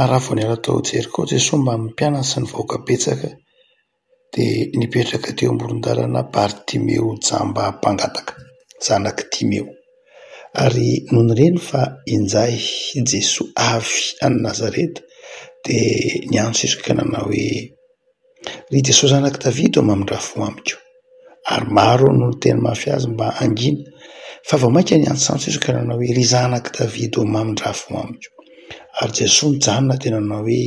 ary raha vao niala tao Jeriko Jesoa mbamin'ny mpianany sy ny vahoaka betsaka dia nipetraka teo amoron-dalana Bartimeo jamba mpangataka, zanak'i Timeo, ary nony nireny fa injay Jesoa avy any Nazareta dia niantso izy ka nanao hoe. Ry Jesosy zanak'i Davida ô mamindrà fo amiko. Ary maro no niteny mafy azy mba hangina, fa vao mainka niantsoantso izy ka nanao hoe, Ry zanak'i Davida ô mamindrà fo amiko. Ary Jesosy nijanona dia nanao hoe,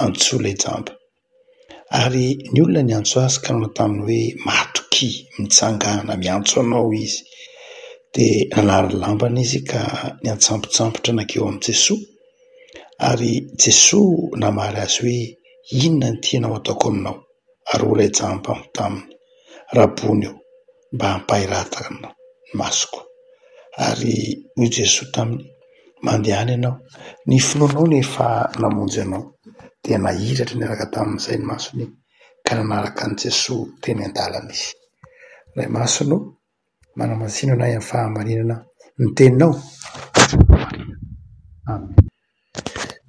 Antsoy ilay jamba. Ary ny olona niantso azy ka nanao taminy hoe, Matokia, mitsangàna, miantso anao izy. Dia nanary ny lambany izy ka niantsampotsampotra nankeo amin'i Jesosy. Ary Jesoa namaly azy hoe, Inona no tianao hataoko aminao? Ary ho rajam-pambo taminy, Rabony ô, mba ampahiratana ny masoko. Ary hoy Jesoa taminy, Mandehana ianao, ny finoanao no efa namonjy anao. Dia nahiratra niaraka tamin'izay ny masony, ka nanaraka an'i Jesoa teny an-dalana izy. Ray masina ô! Manamasino anay amin'ny fahamarinana ny teninao. Amen.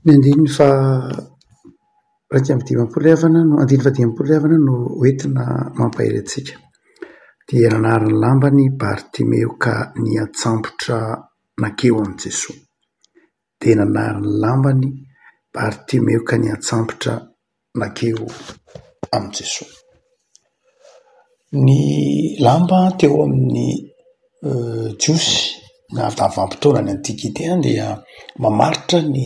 Ny andininy faha-iraika amby dimampolo havana no, andininy fahadimampolo havana no hoentina mampahery antsika. Dia nanary ny lambany Bartimeo ka niantsambotra nankeo amin'i Jesoa. Dia nanary ny lambany Bartimeo ka niantsambotra. mankeo amin'i Jesoa. Ny lamba teo amin'ny Jiosy na vanim-potoanan'ny antikite any dia mamaritra ny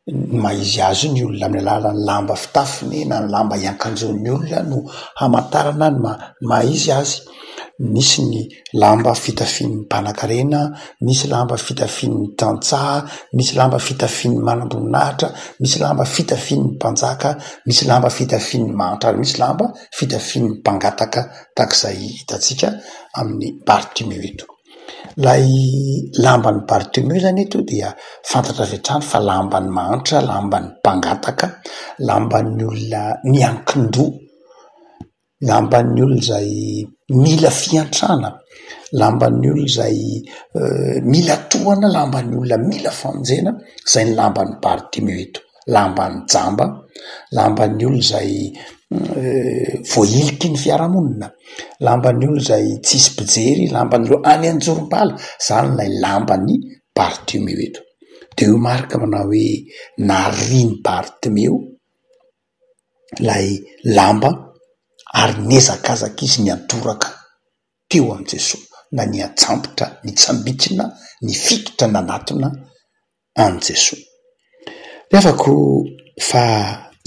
ny maha izy azy io ny olona amin'ny alalan'ny lamba fitafiny na ny lamba iankanjon'ny olona no hamantarana ny maha izy azy. nisy ny lamba fitafian'ny mpanankarena, nisy lamba fitafian'ny tantsaha, nisy lamba fitafian'ny manamboninahitra, nisy lamba fitafian'ny mpanjaka, nisy lamba fitafian'ny mahantra ary nisy lamba fitafian'ny mpangataka tahaka izay hitantsika amin'ny Bartimeo eto. Ilay lamban'i Bartimeo izany eto dia fantatra avy hatrany fa lamban'ny mahantra, lamban'ny mpangataka, lamban'ny olona miankin-doha. lamban'ny olona izay mila fiantrana, lamban'ny olona izay mila tohana, lamban'ny olona mila famonjena, izay ny lamban'i Bartimeo eto, lamban'ny jamba, lamban'ny olona izay voahiliky ny fiarahamonina, lamban'ny olona izay tsisy mpijery, lamban'ny olona any an-jorom-bala, izany ilay lamban'i Bartimeo eto. Dia hoy Marka manao hoe, narian'i Bartimeo. ilay lamba ary nihazakazaka izy niantoraka teo amin'i Jesoa na niantsambotra nitsambikina nifikitra nanatona an'i Jesoa. Revako fa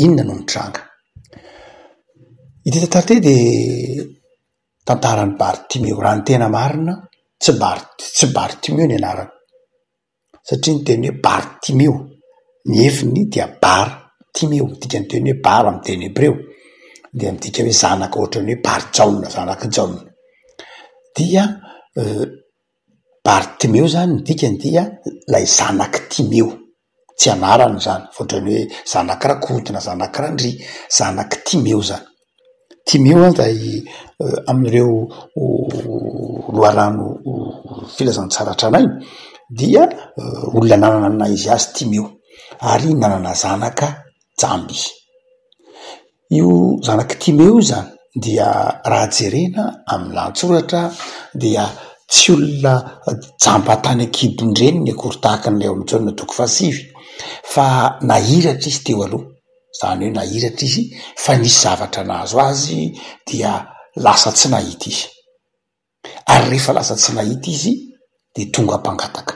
inona no nitranga. Ity tantara ity dia tantaran'i Bartimeo raha ny tena marina tsy Bart- tsy Bartimeo ny anarany. satria ny teny hoe Bartimeo, ny efiny dia bara timeo, ny dikan'ny teny hoe bara amin'ny teny hebreo dia midika hoe zanaka ohatran'ny hoe Barijaona, zanak'i Jaona, dia Bartimeo izany ny dikany dia ilay zanak'i Timeo, tsy anarana izany fa ohatran'ny hoe zanak'i Rakoto na zanak'i Randria, zanak'i Timeo izany. Timeo izay amin'ireo loharano filazantsara tranainy dia olona nanana ny naha izy azy Timeo ary nanana zanaka jamba izy. Io zanak'i Timeo io izany dia raha jerena amin'ny lahatsoratra dia tsy olona jamba tany an-kibon-dreniny akory tahaka an'ilay ao amin'ny Jaona toko fahasivy fa nahiratra izy teo aloha. Izany hoe nahiratra izy fa nisy zavatra nahazo azy dia lasa tsy nahita izy. Ary rehefa lasa tsy nahita izy dia tonga mpangataka.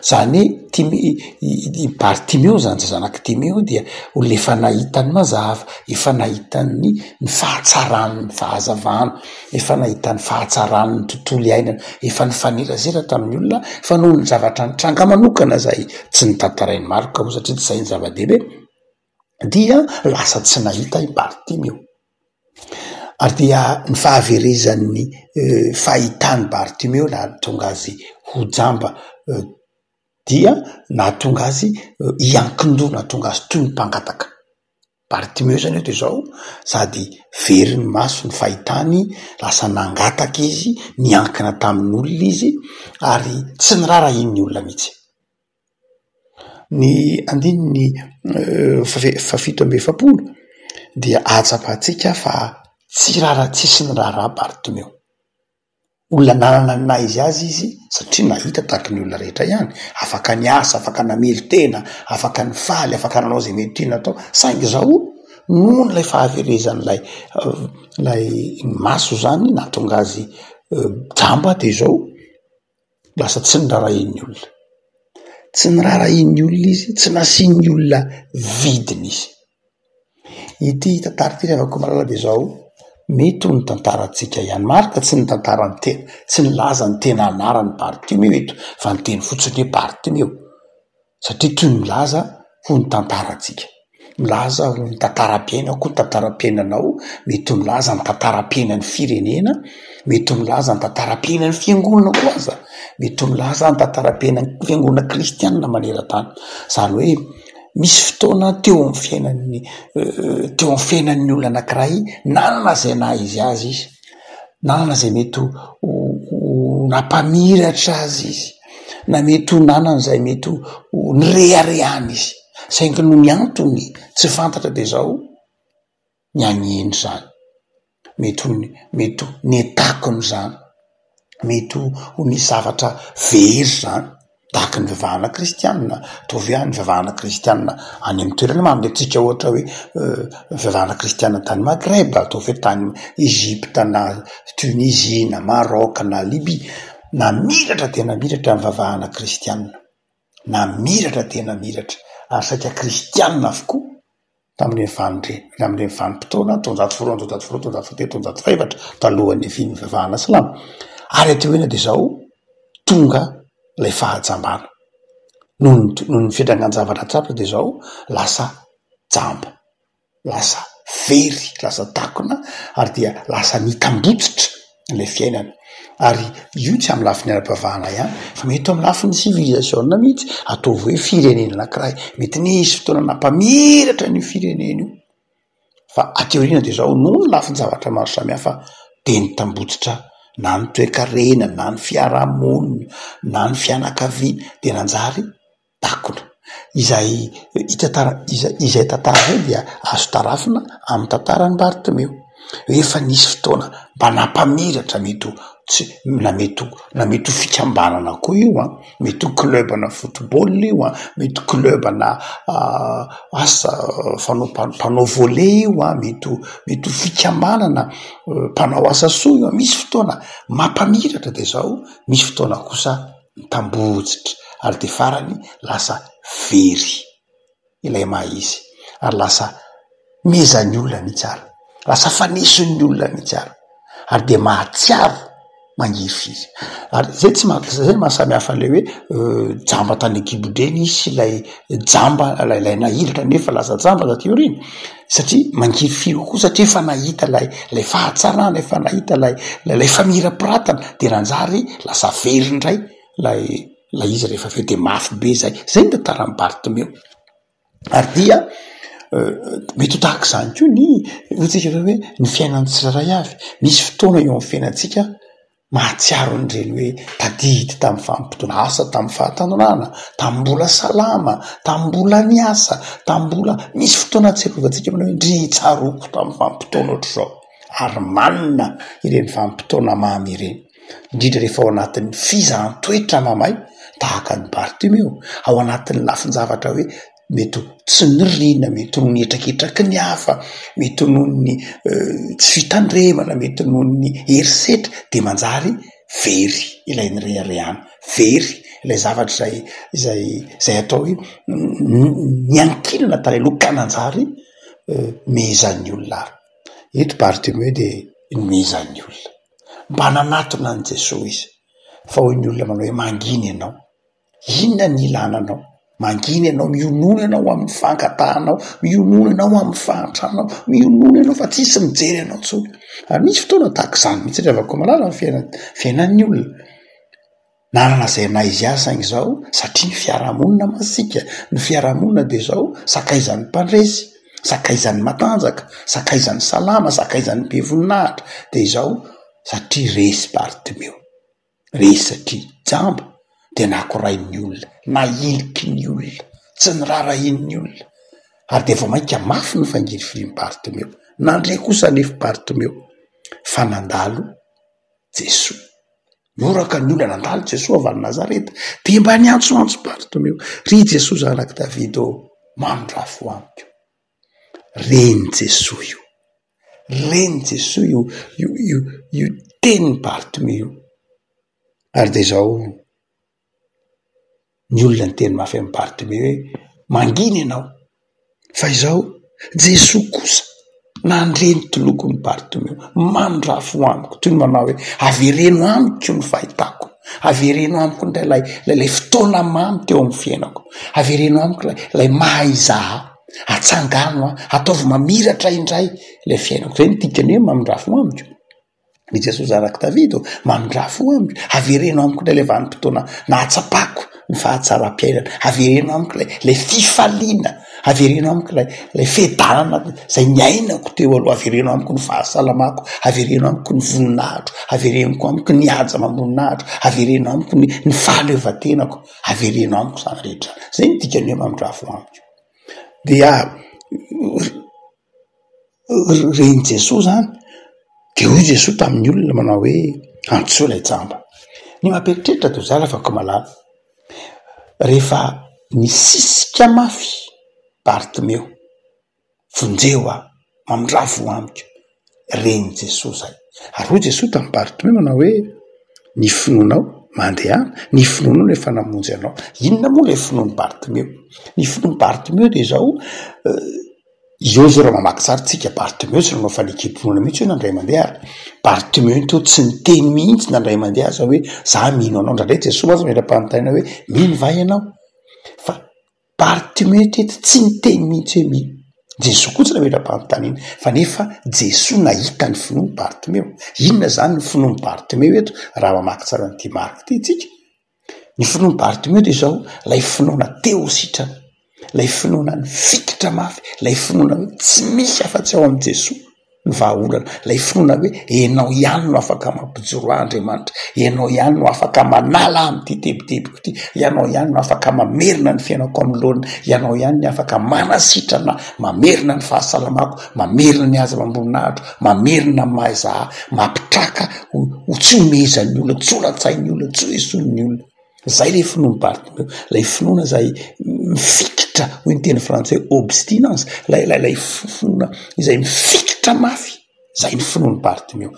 Izany hoe Timeo, i Bartimeo izany dia zanak'i Timeo dia olona efa nahita ny mazava, efa nahita ny fahatsaran'ny fahazavana. efa nahitany fahatsarany ny tontolo iainana, efa nifanerazera tamin'ny olona fa noho ny zavatra nitranga manokana izay tsy notantarain'i Marc moa satria tsy izay ny zava-dehibe dia lasa tsy nahita i Bartimeo ary dia ny fahaverezan'ny fahitan'i Bartimeo nahatonga azy ho jamba dia nahatonga azy hiankin-doha, nahatonga azy toy ny mpangataka. Bartimeo izany eto izao sady very ny maso ny fahitany, lasa nangataka izy, niankina tamin'olona izy ary tsy niraharahian'ny olona mihitsy. Ny andininy fahafito amby efapolo dia ahatsapantsika fa tsy rara-tsisy ny raharaha Bartimeo. Olona nanana ny naha izy azy izy satria nahita tahaka ny olona rehetra ihany, afaka niasa, afaka namelon-tena, afaka nifaly, afaka nanao izay mety tiany atao. Saingy izao, noho ilay fahaverezan'ilay ilay maso izany nahatonga azy jamba dia izao. lasa tsy norarahian'ny olona. Tsy norarahian'ny olona izy, tsy nasian'ny olona vidiny izy. Ity tantara ity ry havako malala dia izao, mety ho ny tantarantsika ihany. Marina tsy ny tantaran'ny tena, tsy nilaza ny tena anaran'ny Bartimeo eto fa niteny fotsiny hoe Bartimeo. satria toy ny milaza ho ny tantarantsika. Milaza ho ny tantaram-piainako koa ny tantaram-piainanao, mety ho milaza ny tantaram-piainan'ny firenena, mety ho milaza ny tantaram-piainan'ny fiangonana koa aza, mety ho milaza ny tantaram-piainan'ny fiangonana kristianina maneran-tany. Izany hoe misy fotoana teo amin'ny fiainan'ny teo amin'ny fiainan'ny olona anankiray nanana izay naha izy azy izy, nanana izay mety ho ho nampamiratra azy izy. na mety ho nanana izay mety ho nireharehany izy saingy noho ny antony tsy fantatra dia izao ny any eny izany mety ho mety ho ny takony izany mety ho ho ny zavatra very izany tahaka ny vavahana kristianina ataovy hoe any vavahana kristianina any amin'ny toerana manome antsika ohatra hoe vavahana kristianina tany Maghreb ataovy hoe tany Egypta na Tunisie na Maroc na Libye Namiratra dia namiratra ny vavahana kristiana. Namiratra dia namiratra ary saika kristiana avokoa tamin'ireny vanin-dre, tamin'ireny vanim-potoana taonjato faharoa, taonjato faharoa, taonjato fahatelo, taonjato fahefatra talohan'ny niavian'ny fivavahana silamo. Ary aty aoriana dia izao tonga ilay fahajambana. Noho ny, noho ny fiantraikan-javatra tsapatra dia izao lasa jamba. lasa very, lasa takona ary dia lasa mitambotsitra ilay fiainana ary io tsy amin'ny lafiny ara-pivavahana ihany fa mety amin'ny lafiny civilisation mihitsy, ataovy hoe firenena anankiray, mety nisy fotoana nampamiratra an'io firenena io fa aty aoriana dia izao noho ny lafin-javatra maro samihafa dia nitambotsitra na ny toe-karena na ny fiaraha-monina na ny fianakaviana dia nanjary. takona. Izay hita tara izay tantara izay dia azo tarafina amin'ny tantaran'i Bartomeo. Rehefa nisy fotoana mba nampamiratra mety ho tsy na mety ho na mety ho fikambanana koa io an, mety ho club ana football io an, mety ho club ana asa fanao mpanao volley io an, mety ho mety ho fikambanana mpanao asa soa io an, misy fotoana mampamiratra dia izao misy fotoana kosa. mitambohotsitra ary dia farany lasa very ilay maha izy ary lasa mezan'ny olona mihitsy ary lasa fanesin'ny olona mihitsy ary ary dia mahatsiaro mangirifiry ary zay tsy maha zay no maha samy hafa an'ilay hoe jamba tany an-kibon-dreny izy sy ilay jamba ilay nahilika nefa lasa jamba taty aoriana satria mangivy firy kokoa satria efa nahita ilay ilay fahatsarana efa nahita ilay lay lay famirapiratana de nanjary lasa very indray lay lay izy rehefa avy eo de mafy be zay zay ny tantaran'i Bartomeo ary dia euh, mety ho tahaka izany koa ny hoy tsika hoe ny fiainan'ny tsirairay avy misy fotoana eo amin'ny fiainantsika Mahatsiaro an'ireny hoe tadidy tamin'ny famotoana asa, tamin'ny fahatanonana, tamin'ny mbola salama, tamin'ny mbola niasa, tamin'ny mbola misy fotoana ahatsiarovantsika manao hoe ndry tsaroako tamin'ny vanim-potoana ohatr'izao. Ary manina ireny vanim-potoana mamy ireny, indrindra rehefa ao anatin'ny fizahan-toetra mamay tahaka an'i Bartimeo, ao anatin'ny lafin-javatra hoe. mety ho tsy nirina, mety ho ny hetraketraky ny hafa, mety ho noho ny tsy fitandremana, mety ho noho ny herisetra dia manjary very ilay nireharehana, very ilay zavatra izay izay izay atao hoe niankina tany aloha ka nanjary nohomezan'ny olona ary eto Bartimeo dia nohomezan'ny olona, mba nanatona an'i Jesoa izy fa hoy ny olona manao hoe mangina ianao. Inona ny ilana anao? Mangina ianao, mionona ianao amin'ny fangatahanao, mionona ianao amin'ny fahantranao, mionona ianao fa tsisy mijery anao intsony. Ary misy fotoana tahaka izany mihitsy ry havako malala ny fiainana, fiainan'ny olona. Nanana izay naha izy azy saingy izao satria ny fiarahamonina masiaka, ny fiarahamonina dia izao sakaizan'ny mpandresy, sakaizan'ny matanjaka, sakaizan'ny salama, sakaizan'ny be voninahitra dia izao satria resy Bartomeo. Resaky jamba dia nakorain'ny olona, nahiliky ny olona, tsy norarahian'ny olona ary dia vao mainka mafy no fangirifirin'i Bartomeo. Nandre kosa anefa i Bartomeo fa nandalo Jesoa. Nihoraka ny olona nandalo Jesoa avy any Nazareta, dia mba niantsoantso Bartomeo, Ry Jesoa Zanak'i Davida ô, manondrafo amiko! Ren'i Jesoa io, ren'i Jesoa io io io io tenin'i Bartimeo io. Ary dia izao ny olona niteny mafy an'i Bartimeo hoe mangina ianao fa izao Jesoa kosa nandre ny tolokon'i Bartimeo, mandrafo amiko toy ny manao hoe avereno amiko ny fahitako, avereno amiko indray ilay ilay ilay fotoana mamy teo amin'ny fiainako, avereno amiko ilay ilay maha-izaho. Atsangano an, ataovy mamiratra indray ilay fiainako. Izay no dikany hoe mamindrà fo amiko. I Jesoa zanak'i Davida ô, mamindrà fo amiko, avereno amiko indray ilay vanim-potoana nahatsapako ny fahatsaram-piainana, avereno amiko ilay ilay fifaliana, avereno amiko ilay ilay fiadanana izay niainako teo aloha, avereno amiko ny fahasalamako, avereno amiko ny voninahitro, averenoko amiko ny haja amam-boninahitro, avereno amiko ny ny fahaleovantenako, avereno amiko izany rehetra izany. Izay no dikany hoe mamindrà fo amiko. dia ren'i Jesoa izany dia hoy Jesoa tamin'ny olona manao hoe antsoy ilay jamba. Ny mampieritreritra toa zala fa komalala rehefa nisisika mafy Bartimeo. Vonjeo aho, mamindraha voa amiko, ren'i Jesoa izay. Ary hoy Jesoa tamin'i Bartimeo hoe, ny finoanao, mandehana, ny finoanao no efa namonjy anao. Inona moa ilay finoan'i Bartimeo? Ny finoan'i Bartimeo dia izao, eo izao raha mamaky tsara isika, Bartimeo tsy nanao fanekempinoana mihitsy hono indray mandeha ary Bartimeo toa tsy niteny mihitsy na indray mandeha aza hoe, izaho mino anao. Indraindray Jesoa mantsy mila-panontaniana hoe, mino va ianao? Fa Bartimeo teto tsy niteny mihitsy hoe mino. Jesoa koa tsy nametra-panontaniana. Fa nefa Jesoa nahita ny finoan'i Bartimeo. Inona izany ny finoan'i Bartimeo eto raha mamaky tsara an'ity Marka ity isika? Ny finoan'i Bartimeo dia izao, ilay finoana te ho sitrana, ilay finoana nifikitra mafy, ilay finoana hoe tsy misy afa-tsy ao amin'i Jesoa. ny vahaolana, ilay finoana hoe ianao ihany no afaka mampijoro ahy Andriamanitra, ianao ihany no afaka manala ahy amin'ity tebitebiko ity, ianao ihany no afaka mamerina ny fiainako amin'ny laoniny, ianao ihany no afaka manasitrana ahy, mamerina ny fahasalamako, mamerina ny hazo amam-boninahitro, mamerina ny maha izaho, mampitraka ho tsy omezan'ny olona, tsy holan-tsain'ny olona, tsy hoesoin'ny olona. Zay le finoan'i Bartholomeo, ilay finoana izay mifikitra, hoy ny teny frantsay obstinence, ilay ilay ilay finoana izay mifikitra mafy, izay ny finoan'i Bartholomeo.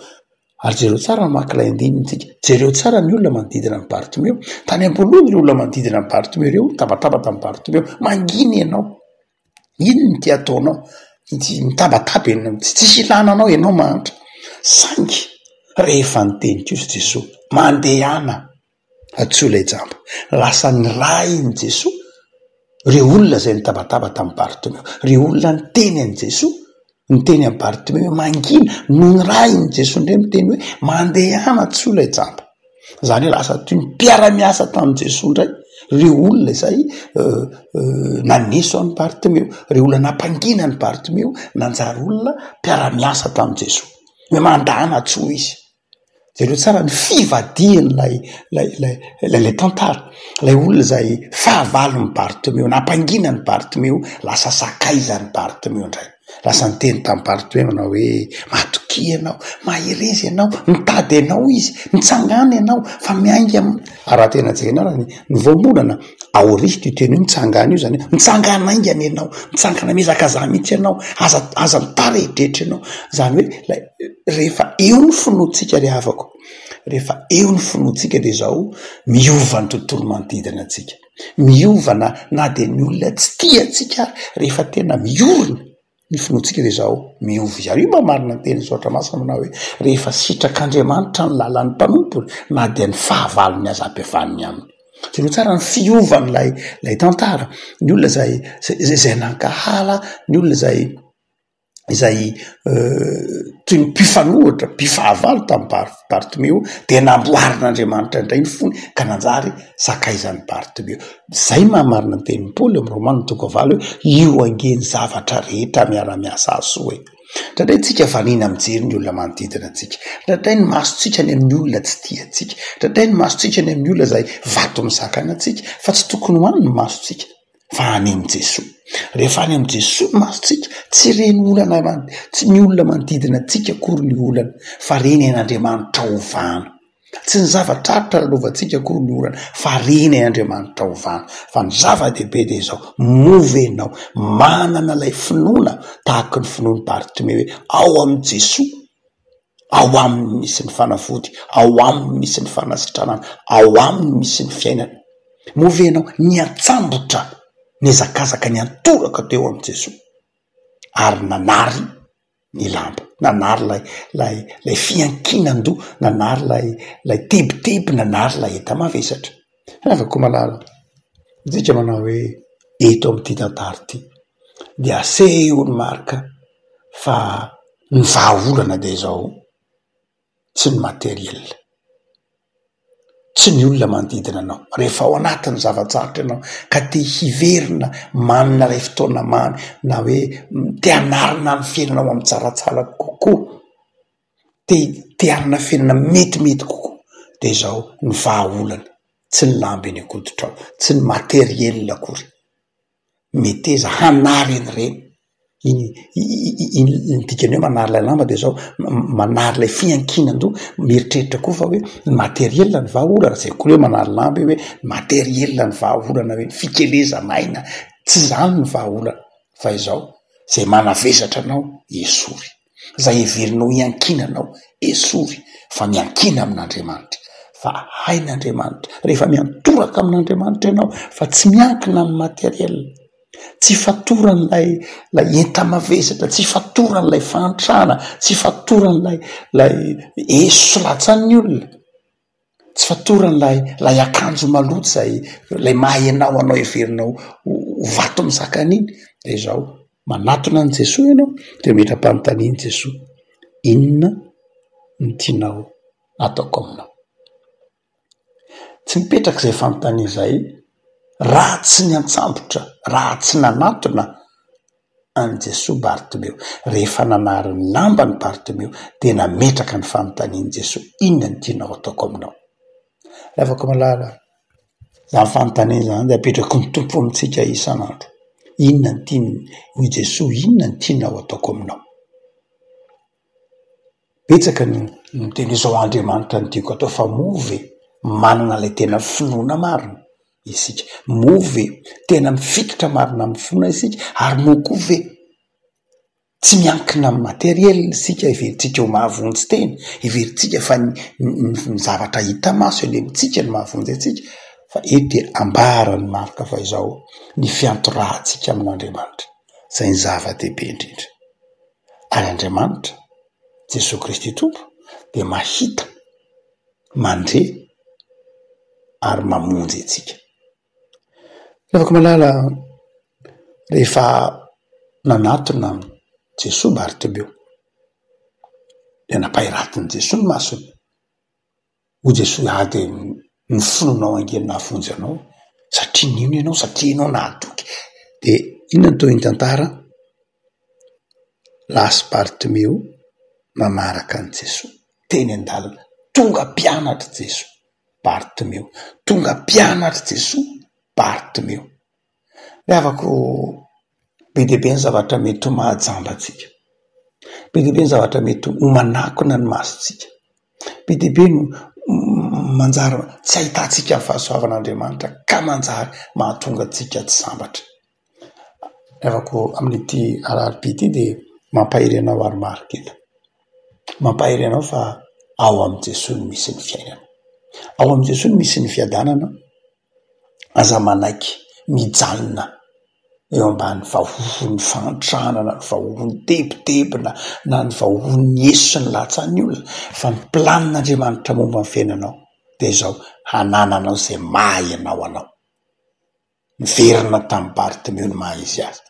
Ary jereo tsara ny maka ilay andininy tsika, jereo tsara ny olona manodidina an'i Bartholomeo, tany am-boalohany ireo olona manodidina an'i Bartholomeo ireo nitabataba tamin'i Bartholomeo, mangina ianao, inona no tia ataonao, ity mitabataba ianao, tsy tsisy ilana anao ianao mahantra, saingy rehefa niteny kosa Jesoa, mandehana. Antsoy ilay jamba. Lasa niray an'i Jesoa ireo olona izay nitabataba tamin'i Bartimeo. Ireo olona niteny an'i Jesoa, niteny an'i Bartimeo hoe mangina, no niray an'i Jesoa indray miteny hoe mandehana antsoy ilay jamba. Izany hoe lasa toy ny mpiara-miasa tamin'i Jesoa indray ireo olona izay naneso an'i Bartimeo, ireo olona nampangina an'i Bartimeo, nanjary olona mpiara-miasa tamin'i Jesoa. Hoe mandehana antsoy Izy. Jereo tsara ny fivadihan'ilay ilay ilay ilay ilay tantara. Ilay olona izay fahavalon'i Bartomeo, nampangina an'i Bartomeo, lasa sakaizan'i Bartomeo indray. Lasa niteny tamin'i Bartomeo nanao hoe, matokia ianao, mahereza ianao, mitady anao izy, mitsangàna ianao fa miainga am-. A raha tena jerena ary ny ny voambolana, aorist'io teny io mitsangàna io izany hoe, mitsangàna haingana ianao, mitsangàna mihazakazaha mihitsy ianao, aza aza mitara eritreritry ianao. Izany hoe ilay. rehefa eo ny finoantsika ry havako, rehefa eo ny finoantsika dia izao, miova ny tontolo manodidina antsika, miova na na dia ny olona tsy tia antsika ary, rehefa tena miorina ny finoantsika dia izao, miova izany. Io mba marina ny tenin'ny Soratra Masina manao hoe, rehefa sitrak'Andriamanitra ny lalan'ny mpanompony, na dia ny fahavalony aza ampihavaniny aminy. Jereo tsara ny fiovan'ilay ilay tantara, ny olona izay izay izay nankahala, ny olona izay izay toy ny mpifanohitra, mpifahavalo tamin'i Bar- Bartomeo dia namboarin'Andriamanitra indray ny fony ka nanjary sakaizan'i Bartomeo. Izay no maha marina ny tenin'i Paoly ao amin'ny Romana toko fahavalo hoe, io ange ny zavatra rehetra miara-miasa hahasoa e! Indraindray isika vanina mijery ny olona manodidina antsika. Indraindray ny masontsika any amin'ny olona tsy tia antsika. Indraindray ny masontsika any amin'ny olona izay vato misakana antsika, fa tsy tokony ho any ny masontsika. fa any amin'i Jesoa. Rehefa any amin'i Jesoa ny masontsika, tsy ireny olana man- tsy ny olona manodidina antsika akory ny olana fa reny ain'Andriamanitra ovana. Tsy ny zavatra atra lalaovantsika akory ny olana fa reny ain'Andriamanitra ovana. Fa ny zava-dehibe dia izao, moa ve ianao manana ilay finoana tahaka ny finoan'i Bartimeo hoe ao amin'i Jesoa Ao Aminy misy ny fanafody, ao Aminy misy ny fanasitranana, ao Aminy misy ny fiainana. Moa ve ianao niantsambotra nihazakazaka niantoraka teo amin'i Jesoa ary nanary ny lamba, nanary ilay ilay ilay fiankinan-doha, nanary ilay ilay tebiteby, nanary ilay enta-mavesatra? Ravakoumalala, midika manao hoe eto amin'ity tantara ity dia aseho ny marika fa ny vahaolana dia izao, tsy ny matériel, tsy ny olona manodidina anao, rehefa ao anatin'ny zava-tsarotra ianao ka te hiverina manana ilay fotoana mamy na hoe te hanarina ny fiainanao amin-tsaratsara kokoa. te te hanana fiainana metimety kokoa de zao ny vahaolana tsy ny lamba eny an-koditrao tsy ny matériel akory meteza hanary any reny iny iny ny dikany hoe manary lay lamba de zao manary ilay fiankinan-doha mieritreritra koa fa hoe ny matériel ny vahaolana zay koa hoe manary lamba io hoe matériel ny vahaolana hoe ny fikelezana aina tsy zany ny vahaolana fa izao zay manavesatra anao esory izay heverinao hiankinanao, esory fa miankina amin'Andriamanitra, fa hain'Andriamanitra, rehefa miantoraka amin'Andriamanitra ianao fa tsy miankina amin'ny matériel, tsy fatoran'ilay ilay enta-mavesatra, tsy fatoran'ilay fahantrana, tsy fatoran'ilay ilay eso sy latsan'ny olona. Tsy fatorany ilay ilay akanjo maloto izay ilay maha ianao anao heverinao ho vato mizaka an'iny dia izao, manatona an'i Jesoa ianao dia ametra-panontanian'i Jesoa, inona no tianao ataoko aminao? Tsy mipetraka izay fanontaniana izay raha tsy niantsambotra, raha tsy nanatona an'i Jesoa Bartomeo. Rehefa nanary ny lambany Bartomeo dia nametraka ny fanontaniany Jesoa, inona no tianao hataoko aminao? Ravako malala a! Izany fanontaniana izany dia apetraky ny Tompo amintsika isan'andro. Inona no tiany, hoy Jesoa, inona no tianao hataoko aminao? Betsaka ny miteny izao Andriamanitra no tiako atao fa moa ve manana ilay tena finoana marina isika? Moa ve tena mifikitra marina amin'ny finoana isika? Ary moa koa ve tsy miankina amin'ny materiel isika heverintsika ho mahavonjy tena? Heverintsika fa ny ny zavatra hita maso eny amintsika no mahavonjy antsika? Fa eto dia ambaran'i Marka fa izao ny fiantorahantsika amin'Andriamanitra izay ny zava-dehibe indrindra. an'Andriamanitra, Jesoa Kristy Tompo dia mahita, mandre ary mamonjy antsika. Tiavako malala rehefa nanatona Jesoa Bartimeo dia nampahiratin'i Jesoa ny masony. Hoy Jesoa, ary dia noforonao ange ny nahavonjy anao, satria nino ianao, satria ianao nahatoky. Dia inona no tohin'ny tantara? Lasa i Bartimeo nanaraka an'i Jesoa teny an-dalana. Tonga mpianatr'i Jesoa Bartimeo, tonga mpianatr'i Jesoa Bartimeo. Ny havako be dia be ny zavatra mety ho mahajamba antsika. Be dia be ny zavatra mety ho manakona ny masontsika. Be dia be no manjary tsy ahitantsika ny fahasoavan'Andriamanitra ka manjary mahatonga antsika tsy sambatra. Ny havako amin'ity Alarobia ity dia mampahery anao ary marika eto. Mampahery anao fa ao amin'i Jesoa no misy ny fiainana. Ao amin'i Jesoa no misy ny fiadanana. Aza manaiky mijanona eo ambany vahohon'ny fahantrana na ny vahohon'ny tebitebina na ny vahohon'ny eso sy ny lahatsan'ny olona fa ny planin'Andriamanitra momba ny fiainanao dia izao, hanananao izay maha ianao anao. Niverina tamin'i Bartimeo ny maha izy azy.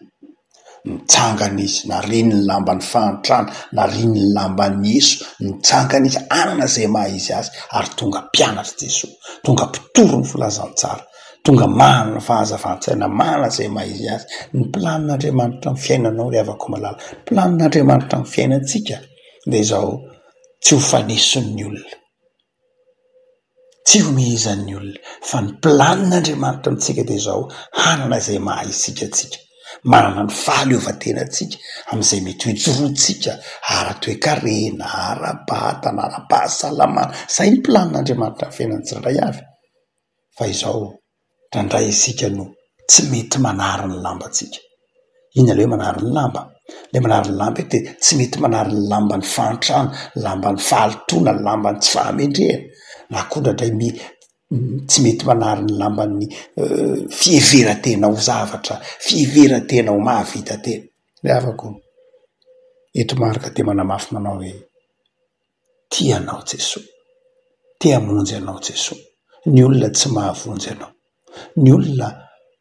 Nitsangana izy, nariany ny lamban'ny fahantrana, nariany ny lamban'i Yesoa, nitsangana izy hanana izay maha izy azy ary tonga mpianatr'i Jesoa, tonga mpitory ny filazantsara, tonga manana fahazavan-tsaina, manana izay maha izy azy. Ny planin'Andriamanitra amin'ny fiainanao ry havako malala, ny planin'Andriamanitra amin'ny fiainantsika dia izao, tsy ho fanesin'ny olona. Tsy omehezan'ny olona fa ny planin'Andriamanitra amintsika dia izao, hanana izay maha isika antsika, manana ny fahaleovantenantsika amin'izay mety ho ijoroantsika ara-toekarena, ara-batana, ara-pahasalamana. Izay ny planin'Andriamanitra amin'ny fiainan'ny tsirairay avy. fa izao indraindray isika no tsy mety manary ny lambantsika. Inona ilay hoe manary ny lamba? Ilay manary ny lamba dia tsy mety manary ny lamban'ny fahantrana, ny lamban'ny fahalotoana, ny lamban'ny tsy fahamendrehana, na koa indraindray me- tsy mety manary ny lamban'ny fiheveran-tena ho zavatra, fiheveran-tena ho mahavita tena. Ry havako, eto Marc dia manamafy manao hoe. Tia anao Jesoa. Te hamonjy anao Jesoa. Ny olona tsy mahavonjy anao. Ny olona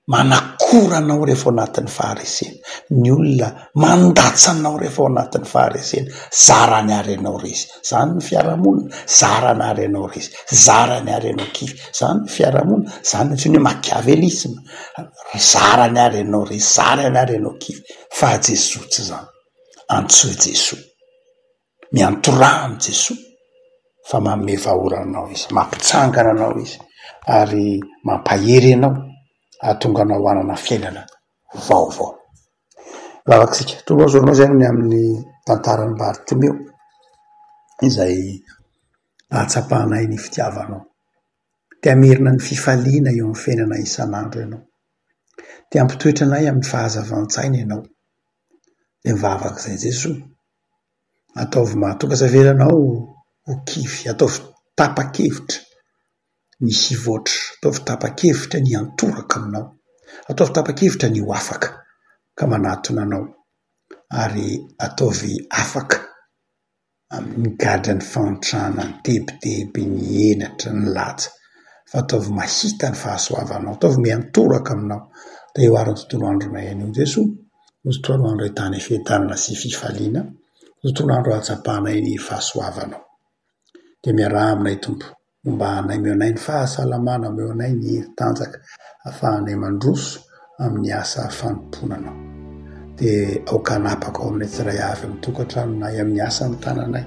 manakora anao rehefa ao anatin'ny faharesena. Ny olona mandatsa anao rehefa ao anatin'ny faharesena. Zarany ary ianao resy. Izany ny fiarahamonina. Zarany ary ianao resy. Zarany ary ianao kivy. Izany ny fiarahamonina. Izany no antsoina hoe machiavélisme. Zarany ary ianao resy. Zarany ary ianao kivy. Faha-Jesoa tsy izany. Antsoy Jesoa. Miantoraha amin'i Jesoa fa manome vahaola anao Izy, mampitsangana anao Izy ary mampahery anao hahatonga anao hanana fiainana vaovao. Vavaka isika, Tompo o, zorao izay ny amin'ny tantaran'i Bartimeo izay nahatsapanay ny fitiavanao. Te hamerina ny fifaliana eo amin'ny fiainanay isan'andro Ianao. Te hampitoetra anay amin'ny fahazavan-tsaina Ianao. Dia mivavaka izay Jesoa. Ataovy mahatokaza velana ao ho kivy. Ataovy tapa-kevitra misy hivoatra. Ataovy tapa-kevitra ny hiantoraka aminao. Ataovy tapa-kevitra ny ho afaka ka manatona anao. Ary ataovy afaka amin'ny gadra ny fahantrana, ny tebiteby, ny henatra, ny laja. Fa ataovy mahita ny fahasoavanao. Ataovy miantoraka aminao. Dia hihoaran'ny tontolo andronay anio Jesoa. Ho tontolo andro ahitana fiadanana sy fifaliana, ho tontolo andro ahatsapanay ny fahasoavanao. Dia miaraha aminay Tompo, homba anay, omeo anay ny fahasalamana, omeo anay ny hery tanjaka ahafahanay mandroso amin'ny asa fanompoana anao. Dia aoka hanapaka ao aminay tsirairay avy amin'ny tokantranonay, amin'ny asan'ny tananay.